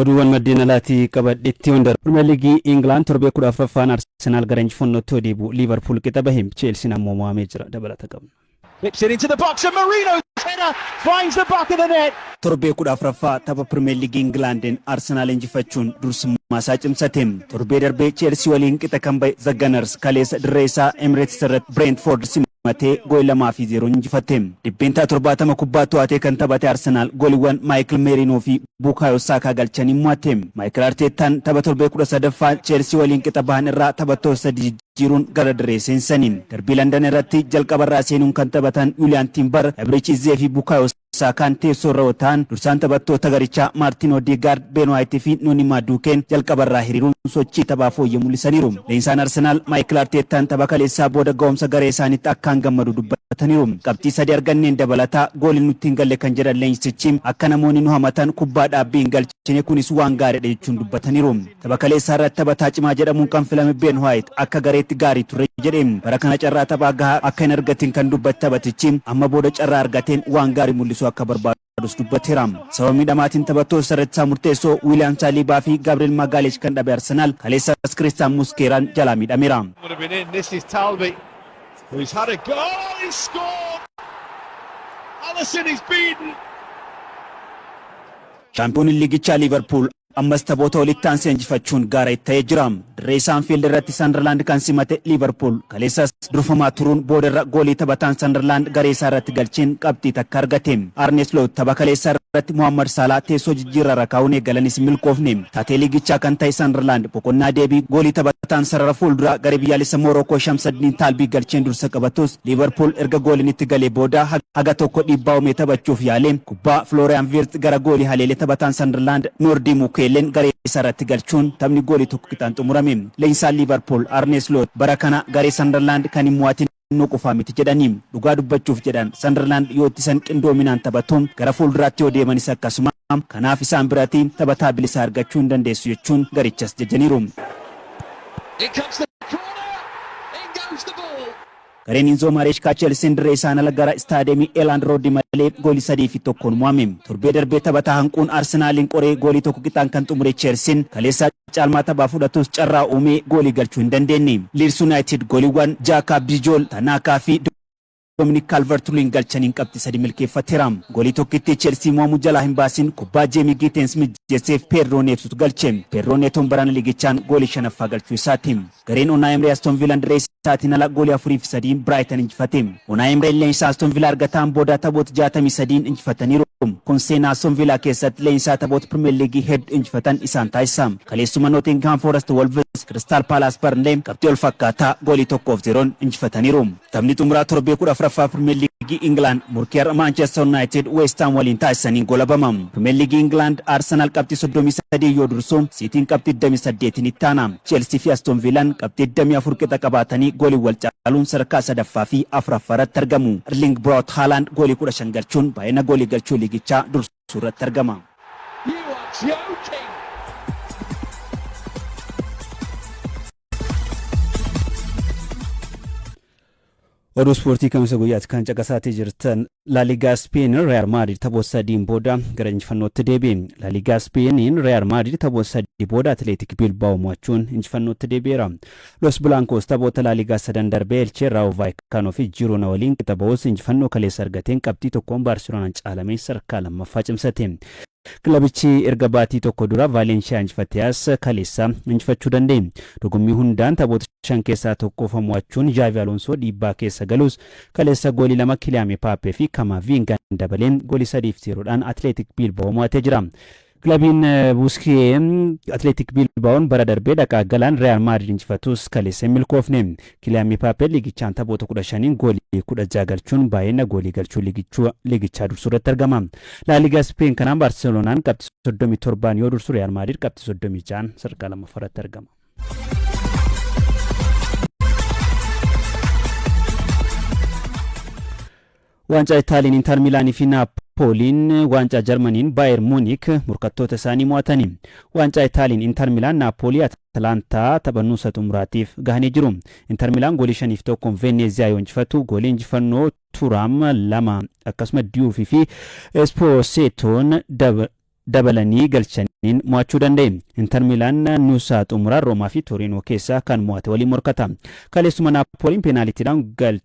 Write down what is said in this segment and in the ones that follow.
Oduuwwan maddeen alaatii qabadhetti Hondar. Pirimeer Liigii Ingilaand torbee 14ffaan Arsenaal gara injifannootti yoo deebi'u Liivarpuul qixa bahe. Cheelsiin ammoo mo'amee jira. Dabalata qabna. Whips it into the box and Mourinho's header finds the back of the net. Torbee 14ffaa tapha Pirimeer Liigii Ingilaandin Arsenaal injifachuun dursummaa isaa cimsate. Torbee darbe Cheelsii waliin qixa kan bahe The Gunners kaleessa dirree isaa Emirates irratti Bireentfoord mo'attee gooli 2 fi 0n injifatte. Dhibbeentaa 70 kubbaa to'atee kan taphate Arsenaal gooliwwan Maayikil Meeriinoo fi Buukaayoo Saakaa galchaniin mo'atte. Maayikil Arteettaan tapha torbee 13ffaa Cheelsii waliin qixa bahan irraa taphattoota sadii jijjiiruun gara dirree seensisaniin. Darbii Landan irratti jalqabarraa seenuun kan taphatan Yuuliyaan Tiimbar, Ebriich Izzee fi Buukaayoo Saakaan teessoo irra yoo taa'an dursaan taphattoota garichaa Maartiin Odeegaard, Been Waayit fi Noonii Maaduukeen jalqabarraa hiriiruun sochii taphaa fooyyee mul'isaniiru. Leenjisaan Arsenaal Maayikil Arteettaan tapha kaleessaa booda ga'umsa garee isaaniitti akkaan gammadu dubbataniiru. Qabxii sadii arganneen dabalataa gooliin nutti hin galle kan jedhan leenjisichi, akka namoonni nu hamatan kubbaa dhaabbii hin galchine. Chine kunis waan gaariidha jechuun dubbataniiru. Tapha kaleessaarratti taphataa cimaa jedhamuun kan filame Ben White akka gareetti gaarii ture jedhe. Bara kana carraa taphaa gahaa akka hin argatiin kan dubbate taphatichi, amma booda carraa argateen waan gaarii mul'isuu akka barbaadus dubbateera. Sababa miidhamaatiin taphattoota isarratti isaa murteessoo William Saliba fi Gabriel Magalhaes kan dhabe Arsenaal, kaleessas Christian Musqueraan jalaa miidhameera. would have been in. This is Talby, who's had a go. Oh, he scored! Allison is beaten. Shaampiyooniin liigichaa Liiverpuul ammas taphoota walitti aanse injifachuun gaara itti ta'ee jira. Dirree isaa Anfiild irratti Sanderlaand kan simate Liiverpuul kaleessas durfamaa turuun boodarra goolii taphataan Sanderlaand garee isaa irratti galcheen qabxii takka argate. Arne Sloot tapha kaleessaa irratti Mohaammad Saalaa teessoo jijjiirraarra kaa'uun eegalanis hin milkoofne. Taatee liigichaa kan ta'e Sanderlaand boqonnaa deebii goolii taphataan sarara fuulduraa garee biyyaalessa Moorookoo Shamsaddiin Taalbii galcheen dursa qabatus Liiverpuul erga gooliin itti galee booda haga tokko dhiibbaa uumee taphachuuf yaale. Kubbaa Filooriyaan Viirt gara goolii haleele taphataan Sanderlaand Noordii Mukiyeelleen garee isaa irratti galchuun taphni goolii tokko qixaan xumurame. Leenjisaan Liivarpuul Arnee Sloot bara kana garee Sanderlaand kan hin mo'atin inuu qofaa miti jedhani. Dhugaa dubbachuuf jedhan Sanderlaand yoo ittisan qindoominaan taphatu, gara fuulduraatti yoo deemanis akkasuma, kanaaf isaan birati taphataa bilisaa argachuu hin dandeessu jechuun garichas jajaniiru. Gareen Inzoo Maareeshkaa Cheelsiin dirree isaan ala gara Istaadiyeemii Eelaand Rooddi malee goolii 3 fi 1n mo'ame. Torbee darbe taphataa hanquun Arsenaaliin qoree goolii tokko qixaan kan xumure Cheelsiin kaleessa caalmaa taphaa fudhatus carraa uumee goolii galchuu hin dandeenye. Liids Yunaayitid gooliiwwan Jaakaab Dijool, Tanaakaa fi Dominik Kaalvart-Luwiin galchaniin qabxii 3 milkeeffateera. Goolii tokkittii Cheelsii mo'amuu jalaa hin baasin kubbaa Jeemii Giiteens mijjeesseef Peedroo Neetuutu galche. Peedroo Neetoon barana liigichaan goolii 5ffaa galchuu isaati. Gareen Onaa Emree Aston Viilaan dirree isaatiin ala goolii 4 fi 3'n Biraayitan injifate. Onaa Emreen leenjisaa Aston Viilaa argataan booda taphoota 63'n injifataniiru. Kun seenaa Aston Viilaa keessatti leenjisaa taphoota Pirimeer Liigii heddu injifatan isaan taasisa. Kaleessuma Nootingihaam Foorasti Wolvis, Kiristaal Paalaas Barnlee qabxii wal fakkaataa goolii 1 fi 0'n injifataniiru. Taphni xumuraa torbee 14ffaa Pirimeer Liigii Ingilaand morkii har'a Maanchester Yuunaayitid Weestaam waliin taasisaniin goolabama. Pirimeer Liigii Ingilaand Arsenaal qabxii 33 yoo dursu, Siitiin qabxii 28n itti aana. Cheelsii fi Astoon Viilaan qabxii 24 qixa qabaatanii gooliin wal caaluun sadarkaa 3ffaa fi 4ffaa irratti argamu. Erliing Braawut Haalaand goolii 15 galchuun baay'ina goolii galchuu liigichaa dursa. suurratti argama. You are joking! Oduu ispoortii kamisa guyyaatti kan caqasaatii jirtan Laaligaa Speen Real Madrid taphoota sadiin booda gara injifannootti deebi'e. Laaligaa Speeniin Real Madrid taphoota sadii booda Atileetik Bilbaa'oo mo'achuun injifannootti deebi'eera. Los Blancos taphoota Laaligaa sadan darbee Elchee, Raawo Vaayikaanoo fi Jiroona waliin qixa bahus injifannoo kaleessa argateen qabxii tokkoon Baarseloonaan caalamee sadarkaa lammaffaa cimsate. Kilabichi erga baatii tokko dura Vaaleenshiyaa injifateas kaleessa injifachuu danda'e. Dorgommii hundaan taphoota shan keessaa tokko qofa mo'achuun Zhaavi Aloonsoo dhiibbaa keessa galus kaleessa goolii lama Kiliyaame Paappee fi Kamaaviingaan dabalee goolii 3 fi 0 dhaan Atileetik Biilbawoo mo'atee jira. Kilabiin Buskiyee Atileetik Biilbaa'oon bara darbee dhaqaa galaan Riyaal Maadrid injifatus kaleessa hin milkoofne. Kiliyaan Mipaapee liigichaan taphoota 15n goolii 16 galchuun baay'ina goolii galchuu liigichaa dursuu irratti argama. Laaligaa Ispeen kanaan Baarseloonaan qabxii 37n yoo dursu Riyaal Maadrid qabxii 36n sadarkaa lammaffaa irratti argama. Waancaa Itaaliin Intar Miilaanii fi Naappooliin, Waancaa Jarmaniin Baayer Muunik morkattoota isaanii mo'atani. Waancaa Itaaliin Intar Miilaan Naappoolii Atalaantaa tapha nuusa xumuraatiif gahanii jiru. Intar Miilaan goolii 5 fi 1n Veenneeziyaa yoo injifatu, goolii injifannoo Turaam 2 akkasuma Diyuufi fi Espoosetoon dabalanii galchaniin mo'achuu danda'e. Intar Miilaan nuusa xumuraa Roomaa fi Toriinoo keessaa kan mo'ate waliin morkata. Kaleessuma Naappooliin peenaalitiidhaan galche.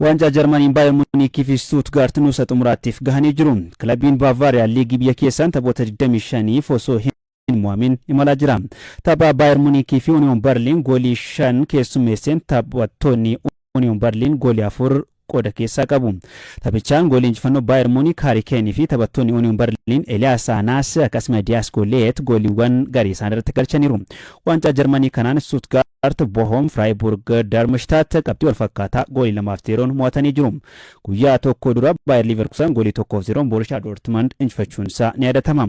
Waancaa Jarmaniin Baayern Muuniikii fi Stuutgaart nuusa xumuraattiif gahanii jiru. Kilabiin Baavaariyaa liigii biyya keessaan taphoota 25f osoo hin mo'amin imalaa jira. Tapha Baayern Muuniikii fi Uniyoon Barliin goolii 5 keessummeesseen taphattoonni Uniyoon Barliin goolii 4 qooda keessaa qabu. Taphichaan goolii injifannoo Baayer Muunik Haari Keenii fi taphattoonni Union Berliin Eliyaas Aanaas akkasuma Diyaas Gooliyeet gooliiwwan garii isaan irratti galchaniiru. Waancaa Jarmanii kanaan Stuttgart, Bohom, Freiburg, Darmstadt qabxii wal fakkaataa goolii lamaaf zeeroon mo'atanii jiru. Guyyaa tokko dura Baayer Liiverkusan goolii tokkoof zeeroon Boorishaa Doortmund injifachuun isaa ni yaadatama.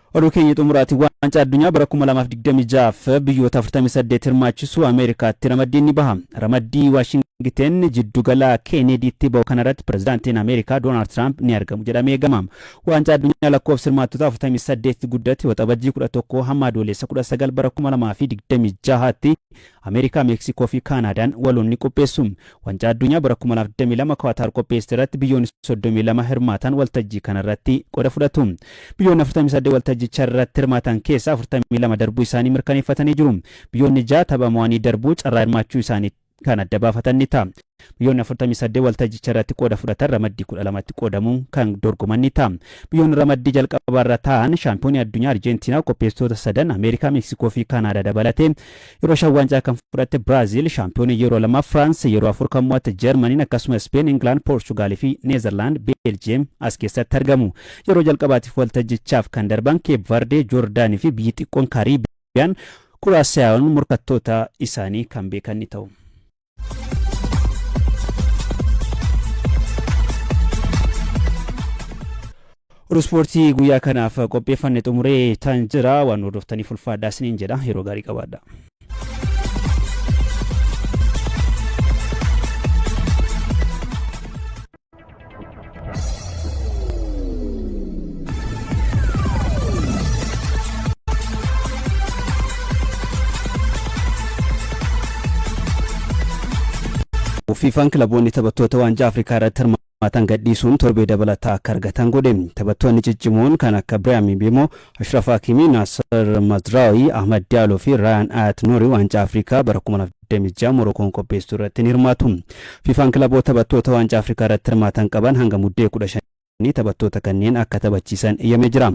Oduu keenya xumuraatiin Waancaa Addunyaa bara 2026f biyyoota 48 hirmaachisu Ameerikaatti ramaddiin ni baha. Ramaddii Waashingiteen jiddugala Keeneediitti bahu kanarratti Pirezidaantiin Ameerikaa Doonaald Tiraamp ni argamu jedhamee eegama. Waancaa Addunyaa lakkoofsi hirmaattotaa 48tti guddate Waxabajjii 11 hamma Adooleessa 19 bara 2026tti Ameerikaa, Meeksikoo fi Kaanaadaan waloon ni qopheessu. Wancaa Addunyaa bara 2022 Kuwaataar qopheessite irratti biyyoonni 32 hirmaataan waltajjii kana irratti qoda fudhatu. Biyyoonni 48 waltajjicha irratti hirmaatan keessaa 42 darbuu isaanii mirkaneeffatanii jiru. Biyyoonni 6 tapha mo'anii darbuu carraa hirmaachuu isaanii kan adda baafatan ni ta'a. Biyyoonni 48 waltajjicharratti qooda fudhatan ramaddii 12tti qoodamuun kan dorgoman ni ta'a. Biyyoonni ramaddii jalqabaarra taa'an shaampiyoonii addunyaa Arjentiinaa, qopheessitoota sadan Ameerikaa, Meeksikoo fi Kaanaadaa dabalatee yeroo shan waancaa kan fudhatte Biraaziil, shaampiyoonii yeroo lama Firaans, yeroo afur kan mo'atte Jarmaniin akkasuma Ispeen, Ingilaand, Poorchugaal fi Neezerlaand, Beeljiyeem as keessatti argamu. Yeroo jalqabaatiif waltajjichaaf kan darban Keep Vardee, Joordaanii fi biyyi xiqqoon Kaariibiyaan Kuraasiyaayoon morkattoota isaanii kan beekan ni ta'u. Oduu ispoortii guyyaa kanaaf qopheeffanne xumuree tan jira waan hordoftaniif ulfaadhaa isiniin jedha yeroo gaarii qabaadha. Fiifaan kilaboonni taphattoota waancaa Afrikaa irratti hirmaatan gadhiisuun torbee dabalataa akka argatan godhe. Taphattoonni ciccimoon kan akka Biraam Mbeemoo, Ashraf Hakimi, Naasir Mazraawii, Ahmad Diyaaloo fi Raayaan Ayat Nuuri waancaa Afrikaa bara 26 Morokoon qopheessitu irratti ni hirmaatu. Fifaan kilaboota taphattoota Waancaa Afrikaa irratti hirmaatan qaban hanga Muddee 15 taphattoota kanneen akka taphachiisan eeyyamee jira.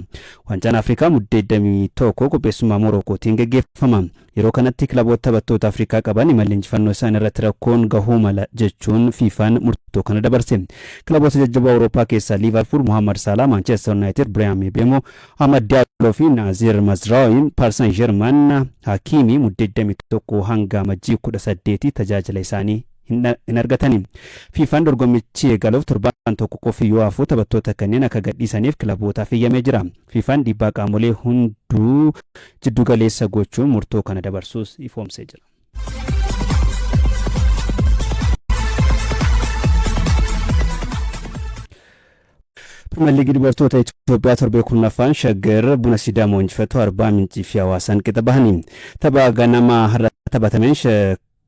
Waancaan Afrikaa Muddee 21 qopheessummaa Morokootiin gaggeeffama. Yeroo kanatti kilaboota taphattoota Afrikaa qaban imalli injifannoo isaanii irratti rakkoon gahuu mala jechuun Fifaan murtoo kana dabarse. Kilaboota jajjaboo Awurooppaa keessaa Liivarpuul Muhammad Saalaa, Maanchester Yuunaayitid Biraayaan Mibeemoo, Amad Diallo fi Naazir Mazraoui Parsan Jerman Hakiimii Mudde 21 hanga Amajjii 18 tajaajila isaanii hin argatani. Fiifaan dorgommichi eegaluuf torbaan tokko qofi yoo hafu taphattoota kanneen akka gadhiisaniif kilabootaaf eeyyamee jira. Fiifaan dhiibbaa qaamolee hunduu jiddu galeessa gochuun murtoo kana dabarsuus ifoomsee jira. Pirimeer Liigii dubartoota Itoophiyaa torbee kurnaffaan Shaggar buna Sidaamoo injifattu Arbaa Mincii fi Hawaasaan qixa bahanii tapha ganama har'a taphatameen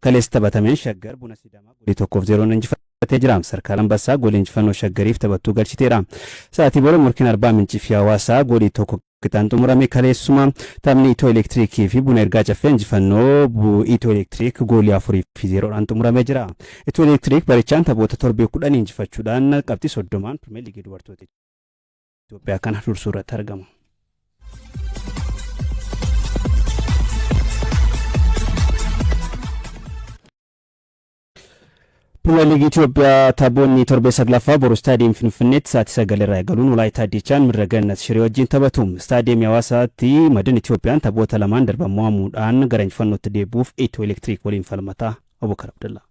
kaleessa taphatameen Shaggar buna Sidaamaa golii tokkoof zeeroon injifatee jira. Sarkaal Ambassaa golii injifannoo Shaggariif taphattuu galchiteera. Sa'aatii booda morkiin Arbaa Mincii fi Hawaasaa golii tokko Qitaan xumurame kaleessuma taphni Itoo Elektiriikii fi Buna Ergaa Caffee injifannoo bu Itoo Elektiriik goolii afurii fi zeeroodhaan xumuramee jira. Itoo Elektiriik barichaan taphoota torbee kudhan injifachuudhaan qabxii soddomaan Pirimeer Liigii Dubartoota Itoophiyaa kana dursuu irratti argama. Pirimeer Liigii Itoophiyaa taphoonni torbee saglaffaa boru istaadiyeemii Finfinneetti sa'aatii sagalirraa eegaluun Walaayittaa Diichaan mirga Gannat Shiree wajjin taphatu. Istaadiyeemii Hawaasaatti Madin Itoophiyaan taphoota lamaan darban mo'amuudhaan gara injifannootti deebi'uuf Itiyoo Elektiriik waliin falmata. Abubakar Abdallaa.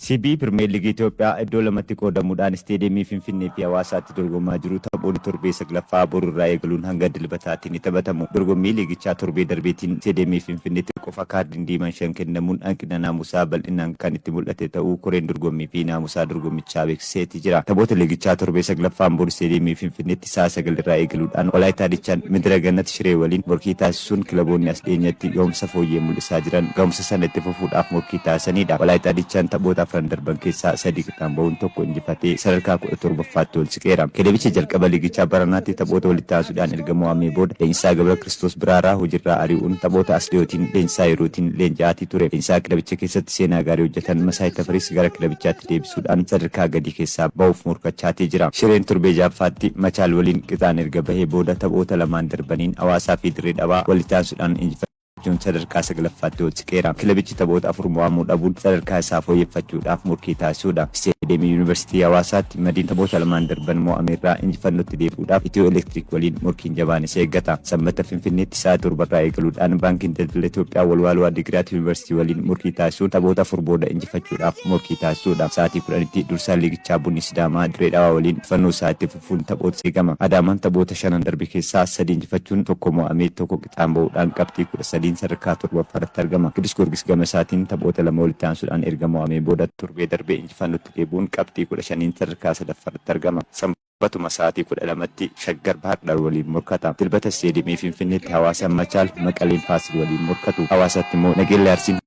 CB Pirimeer Liigii Itoophiyaa iddoo lamatti qoodamuudhaan isteediyeemii Finfinnee fi Hawaasaatti dorgomaa jiru taphoonni torbee saglaffaa borurraa eegaluun hanga dilbataatti Finfinneetti ni taphatamu. Dorgommii liigichaa torbee darbeetiin Isteediyeemii Finfinneetti qofa kaardiin diimaan shan kennamuun hanqina naamusaa bal'inaan kan itti mul'ate ta'uu koreen dorgommii fi naamusaa dorgommichaa beeksiseeti jira. Taphoota liigichaa torbee saglaffaan bor Isteediyeemii Finfinneetti sa'a sagal irraa eegaluudhaan Walaayittaa Dichaan Midira Gannat Shiree waliin morkii taasisuun kilaboonni as dhiyeenyatti gahumsa fooyyee mul'isaa jiran gahumsa sana itti fufuudhaaf morkii taasisaniidha. Walaayittaa Dichaan taphoota afran darban keessaa sadi dhaan ba'uun tokko injifatee sadarkaa kudha torbaffaatti ol siqeera. Kilebicha jalqaba liigichaa baranaatti taphoota walitti aansuudhaan erga mo'amee booda Leenjisaa Gabra Kiristoos Biraaraa hojiirraa ari'uun taphoota as dhiyootiin leenjisaa yerootiin leenji'aatii ture. Leenjisaa kilebicha keessatti seenaa gaarii hojjetan Masaay Tafariis gara kilebichaatti deebisuudhaan sadarkaa gadii keessaa ba'uuf morkachaatee jira. Shireen torbee ja'affaatti Machaal waliin qixaan erga bahee booda taphoota lamaan darbaniin Hawaasaa fi Dirree Dhawaa walitti aansuudhaan injifatee. Joon sadarkaa saglaffaatti ol siqeera. Kilabichi taphoota afur mo'amuu dhabuun sadarkaa isaa fooyyeffachuudhaaf morkii taasisuudha. Isteediyeemii Yuunivarsiitii Hawaasaatti Madiin taphoota lamaan darban mo'ame irraa injifannootti deebi'uudhaaf Itiyoo Elektiriik waliin morkiin jabaan isa eeggata. Sanbata Finfinneetti sa'a torba irraa eegaluudhaan Baankiin Daldala Itoophiyaa Walwaaloo Addigiraat Yuunivarsiitii waliin morkii taasisuun taphoota afur booda injifachuudhaaf morkii taasisuudha. Sa'aatii kudhanitti dursaan liigichaa Bunni Sidaamaa Dirree Dhawaa waliin injifannoo isaa itti fufuun taphoota eegama. Adaamaan taphoota shanan darbe keessaa sadi injifachuun tokko mo'amee tokko qixaan ba'uudhaan qabxii 13n sadarkaa 7ffaarratti argama. Qidus Giyoorgis gama isaatiin taphoota lama walitti aansuudhaan erga mo'amee booda torbee darbe injifannootti deebi'uun qabxii 15n sadarkaa 3ffaarratti argama. Sanbatuma sa'aatii 12tti Shaggar Bahar Dar waliin morkata. Dilbata Isteediyeemii Finfinneetti Hawaasaan Machaal, Maqaleen Faasil waliin morkatu. Hawaasaatti immoo Nageellee Arsiin.